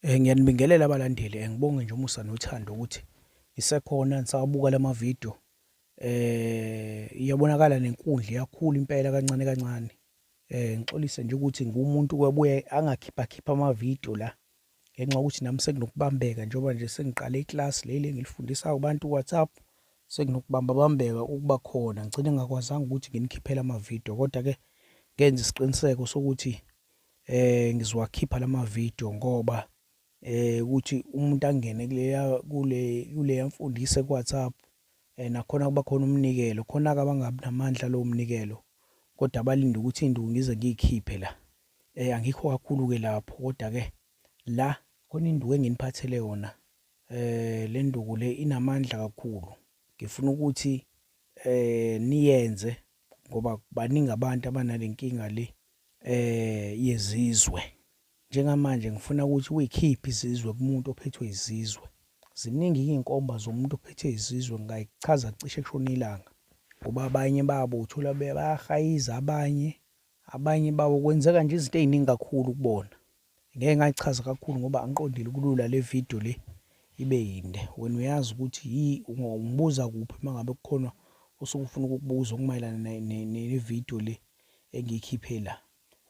Eh, ngiyanibingelela abalandeli eh, ngibonge nje umusa nothando ukuthi ngisekhona ngisawabuka lama video eh iyabonakala nenkundla iyakhula impela kancane kancane eh ngixolise nje ukuthi ngumuntu kwabuye angakhipha khipha ama video la ngenxa ukuthi nami sekunokubambeka njengoba nje sengiqale iclass leli engilifundisa kubantu WhatsApp sekunokubamba bambeka ukuba khona ngicine ngakwazanga ukuthi nginikhiphela ama video kodwa ke ngenza isiqiniseko sokuthi eh ngizowakhipha lama video ngoba eh ukuthi umuntu angene kuleya kule kuleya mfundisi ku WhatsApp eh nakhona kuba khona umnikelo khona ke abangabi namandla lo mnikelo kodwa abalinde ukuthi induku ngize ngiyikhiphe la eh angikho kakhulu ke lapho kodwa ke la khona induku enginiphathele yona eh le nduku le inamandla kakhulu ngifuna ukuthi eh niyenze ngoba baningi abantu abanalenkinga le eh yezizwe njengamanje ngifuna ukuthi uyikhiphe izizwe kumuntu ophethwe izizwe ziningi izinkomba zomuntu ophethe izizwe ngayichaza cishe kushona ilanga ngoba abanye babo uthola bayahayiza abanye abanye babo kwenzeka nje izinto eziningi kakhulu kubona Ngeke ngayichaza kakhulu ngoba angiqondile kulula le video le ibe yinde. Wena uyazi ukuthi yi ungibuza kuphi uma ngabe kukhona osuke ufuna ukukubuza okumayelana ne-video le engiyikhiphe la.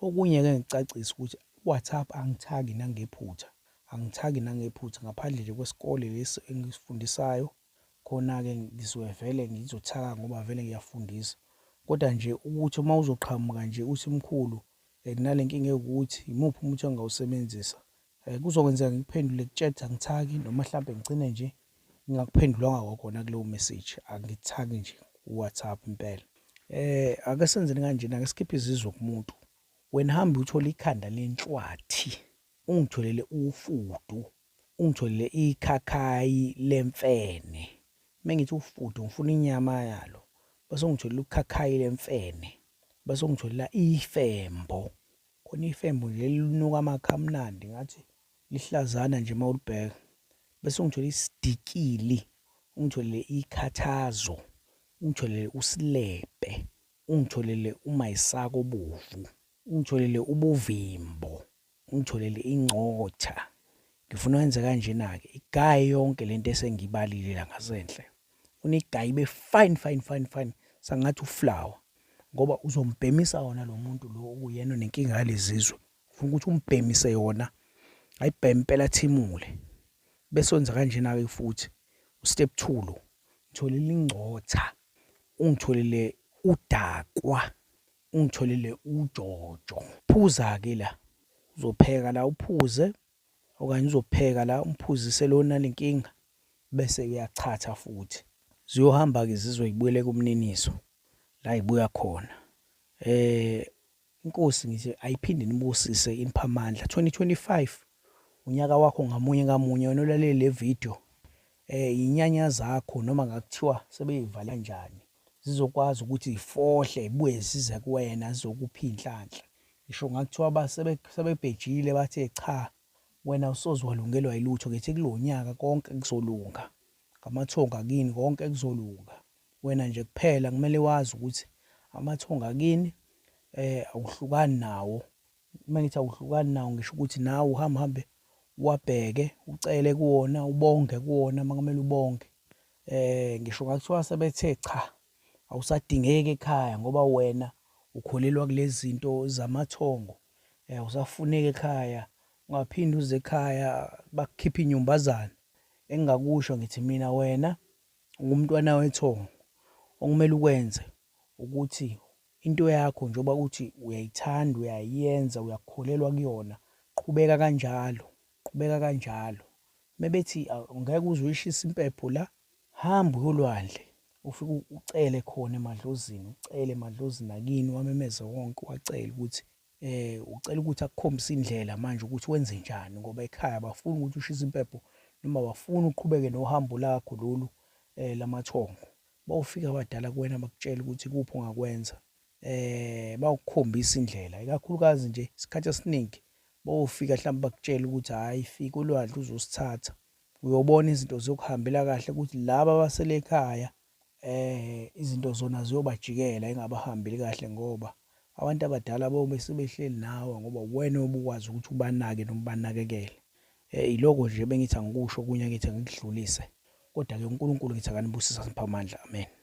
Okunye-ke ngicacisa ukuthi WhatsApp angithagi nangephutha, angithagi nangephutha ngaphandle nje kwesikole lesi engisifundisayo, khona-ke ngizoke vele ngizothaka ngoba vele ngiyafundisa. Kodwa nje ukuthi uma uzoqhamuka nje uthi mkhulu um nale nkinga ewukuthi yimuphi umuthi engingawusebenzisa um kuzokwenzeka ngikuphendule kutshede angithaki noma mhlawumbe ngigcine nje ngingakuphendulanga kwakhona kuleyo message angithaki nje kuwhatsapp impela um ake senzeni kanjena ake sikhiphe izizwe kumuntu wena hambe uthole ikhanda lenhlwathi ungitholele ufudu Ungitholile ikhakhayi lemfene. Mengithi ufudu ngifuna inyama yalo. Bese ungitholile ukhakhayi lemfene. Bese ungitholela ifembo. Khona ifembo nje linuka amakha amnandi ngathi lihlazana nje mawulibheka. Bese ungitholile isidikili. Ungitholile ikhathazo. Ungitholile usilebhe. Ungitholile umayisaka obovu. Ungitholile ubuvimbo. Ungitholele ingcotha. Ngifuna wenze kanjena-ke. Igaye yonke lento esengibalile la ngasenhle. Unigaye ibe fine fine fine fine sangathi uflower ngoba uzombhemisa wona lo muntu lo uyena onenkinga yalezizwe ufuna ukuthi umbhemise yona ayibheme impela thimule bese wenza kanjena ke futhi ustep 2 lo ngitholile ingcotha ungitholile udakwa ungitholele ujojo phuza ke la uzopheka la uphuze okanye uzopheka la umphuzise lona lenkinga bese uyachatha futhi ziyohamba ke zizwe ibuyele kumniniso la ibuya khona eh inkosi ngithi ayiphinde nibusise inipha amandla 2025 unyaka wakho ngamunye ngamunye wena ulalele le video eh inyanya zakho noma ngakuthiwa sebeyivala njani zizokwazi ukuthi ifohle ibuye zize kuwena zizokupha inhlanhla ngisho ngakuthiwa basebe sebebhejile bathe cha wena usoze walungelwa ilutho ngithi kulonyaka konke kuzolunga ngamathonga kini konke kuzolunga wena nje kuphela kumele wazi ukuthi amathonga kini eh awuhlukani nawo Uma ngithi awuhlukani nawo ngisho ukuthi nawe uhambe uhambe uwabheke, ucele kuwona, ubonge kuwona uma kumele ubonge. Eh ngisho ngakuthiwa sebethe cha awusadingeki ekhaya ngoba wena ukholelwa kulezi zinto zamathongo. Eh awusafuneki ekhaya, ungaphinde uze ekhaya bakukhiphe inyumbazana. Engingakusho ngithi mina wena ungumntwana wethongo. Okumele ukwenze ukuthi Into yakho njengoba uthi uyayithanda uyayenza uyakholelwa kuyona qhubeka kanjalo qhubeka kanjalo mebethi ngeke uze uyishise impepho la hamba uyolwandle ufike ucele khona emadlozini ucele emadlozini akini wamemeze wonke wacela ukuthi eh ucela ukuthi akukhombise indlela manje ukuthi wenze njani ngoba ekhaya bafuna ukuthi ushise impepho noma bafuna uqhubeke nohambo lakho lolu eh lamathongo Bawufika abadala kuwena bakutshela ukuthi kuphi ongakwenza. Eh bawukhombisa indlela ikakhulukazi nje isikhathi esiningi bawufika mhlawumbe bakutshela ukuthi hayi fika ulwandle uzosithatha. Uyobona izinto ziyokuhambela kahle ukuthi laba abasele ekhaya eh izinto zona ziyobajikela engabahambeli kahle ngoba abantu abadala bobe sebehleli nawe ngoba uwena obukwazi ukuthi ubanake noma ubanakekele. Yiloko nje ebengithi angikusho okunye angithi angikudlulise. Kodwa-ke uNkulunkulu ngithi akanibusise aniphe amandla. Amen.